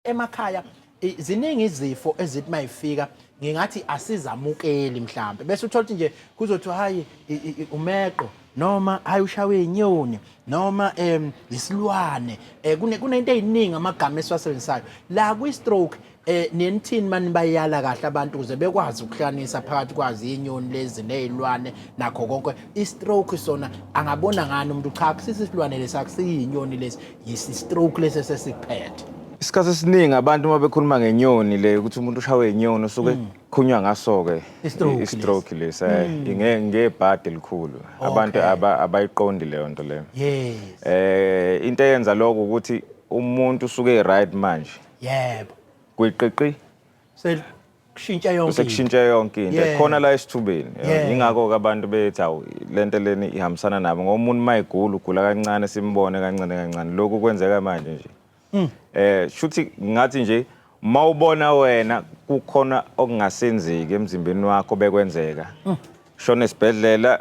emakhaya i- ziningi izifo ezithi mayifika ngingathi asizamukeli mhlambe bese uthola ukuthi nje kuzothiwa hayi i- i- i- umeqo noma hayi ushawe inyoni noma em isilwane eh, kune- kunento eziningi amagama esiwasebenzisayo la kwi-stroke eh nenithini mani bayala kahle abantu ukuze bekwazi ukuhlanisa phakathi kwazi inyoni lezi nezilwane nakho konke i-stroke sona angabona ngani umuntu cha kusisi isilwane lesi akusiyinyoni lesi Yes, istroke lesi esesikuphethe. Isikhathi esiningi abantu uma bekhuluma ngenyoni le ukuthi umuntu ushawe inyoni usuke mm. khunywa ngaso-ke Istroke istroke lesi eh, mm. inge- ngebhadi elikhulu abantu aba- abayiqondi leyo nto leyo Yes. eh into eyenza lokho ukuthi umuntu usuke e-right manje Yebo. kwiqiqi sekushintsha yonke into. sekushintshe yonke into Yeah. khona la esithubeni Yeah. ingakho-ke abantu bethi awu le nto leni ihambisana nabo ngoba umuntu uma egula ugula kancane simbone kancane kancane lokhu kwenzeka manje nje Mm. eh shuthi ngathi nje uma ubona wena kukhona okungasenzeki emzimbeni wakho bekwenzeka Mm. shona esibhedlela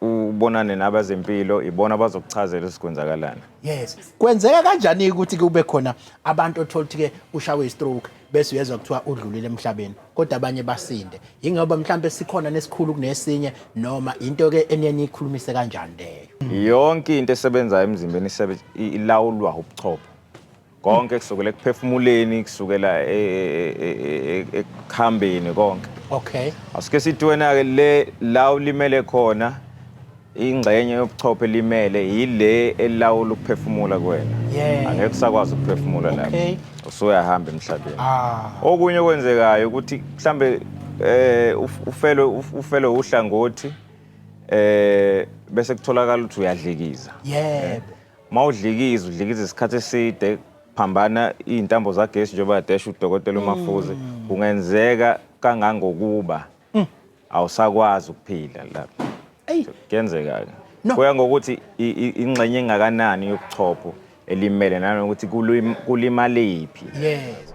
ubonane nabazempilo ibona abazokuchazela ukuthi kwenzakalani yes kwenzeka kanjani ukuthi kube khona abantu othola ukuthi ke ushawe istroke bese uyezwa kuthiwa udlulile emhlabeni kodwa abanye basinde yingoba mhlawumbe sikhona nesikhulu kunesinye noma into ke eniyeni ikhulumise kanjani leyo yonke into esebenzayo emzimbeni ilawulwa ubuchopho konke kusukela ekuphefumuleni kusukela ekuhambeni konke okay asike sithi wena ke le la ulimele khona ingxenye yobuchopho elimele yile elawula ukuphefumula kwena yeah. angeke usakwazi ukuphefumula lapho okay. usuyahamba emhlabeni ah. okunye okwenzekayo ukuthi mhlambe eh ufelwe ufelwe uhlangothi eh bese kutholakala ukuthi uyadlekiza yebo yeah. Uma udlikiza udlikiza isikhathi eside phambana iy'ntambo zagesi njengoba yadesha udokotela uMafuze mm. kungenzeka kangangokuba mm. awusakwazi ukuphila lapho kuyenzeka-ke kuya ngokuthi ingxenye engakanani yobuchopho elimele nanokuthi kulimalephi yes